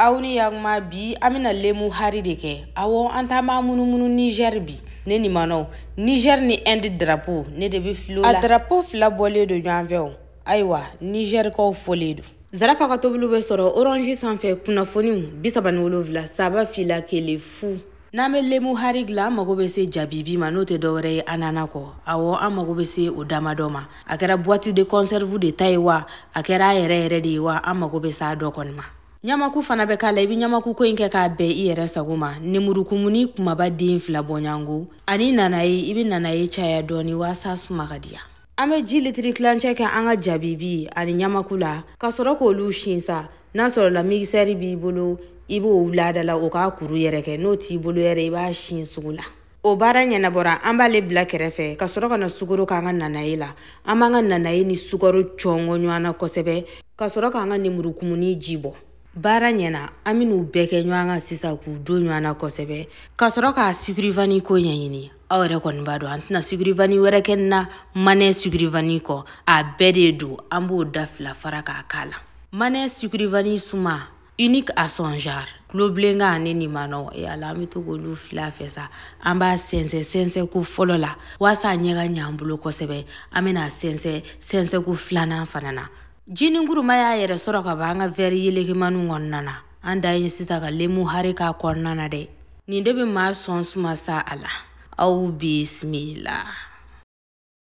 aw ni yakuma bi an bɛna lemu hari de kɛ awɔ an taama munumunu nizɛri bi ne ni manɔw nizɛri ni ɛndi darapo ne de bɛ fil'o la a darapo fila bɔlen don ɲɔgɔn fɛ o ayiwa nizɛrikaw folen don zarafa ka tobiliw bɛ sɔrɔ orange sanfɛ kunnafoniw bi saba ni wolonwula saba fila kelen fu n'an bɛ lemu hari dilan an mago bɛ se jabibi ma n'o tɛ dɔwɛrɛ ye anana kɔ awɔ an mago bɛ se o damadɔ ma a kɛra boite de conserve de ta ye wa a kɛra a yɛrɛ yɛrɛ de ye wa an mago bɛ s'a dɔ kɔni ma ɲamaku fana bɛ k'a la i bɛ ɲamaku ko in kɛ k'a bɛn i yɛrɛ sago ma nemurukumuni kumaba den fila bɔɲɔgɔnko ani nanaye i bɛ nanaye caya dɔɔni waasa suma ka diya an bɛ ji litiri tilancɛ kɛ an ka jabibi ani ɲamaku la ka sɔrɔ k'olu sin sa n'a sɔrɔla migisɛri b'i bolo i b'o wulada la o k'a kuru yɛrɛ kɛ n'o t'i bolo yɛrɛ i b'a sin sugu la o baara ɲɛnabɔra an b'ale bila kɛrɛfɛ ka sɔrɔ ka na sukoro k'an ka nanaye la an b'an ka nanaye ni sukaro cɔngɔ ɲɔgɔn na kosɛbɛ ka sɔrɔ k'an ka nemurukumuni ji bɔ baara ɲɛna an bɛn'u bɛɛ kɛ ɲɔgɔn kan sisan k'u don ɲɔgɔn na kosɛbɛ ka sɔrɔ k'a sigirivani ko ɲɛɲini aw yɛrɛ kɔni b'a dɔn an tɛna sigirivani wɛrɛ kɛ na manɛ sigirivani kɔ a bɛdɛ don an b'o da fila fara k'a k'a la manɛ sigirivani suma unique à son genre kulobilenkan ne ni manɔ e ala an bɛ to k'olu fila fɛ sa an b'a sɛnsɛn sɛnsɛn ko fɔlɔ la waasa a ɲɛ ka ɲɛ an bolo kosɛbɛ an bɛna sɛnsɛn sɛnsɛn ko filanan fana na Jinin kuruma y'a yɛrɛ sɔrɔ ka b'an ka vɛri yelekemaniw kɔnɔna na an dan ye sisan ka lemu hari k'a kɔnɔna na dɛ nin de bɛ maa sɔn suma sa ala aw bisimila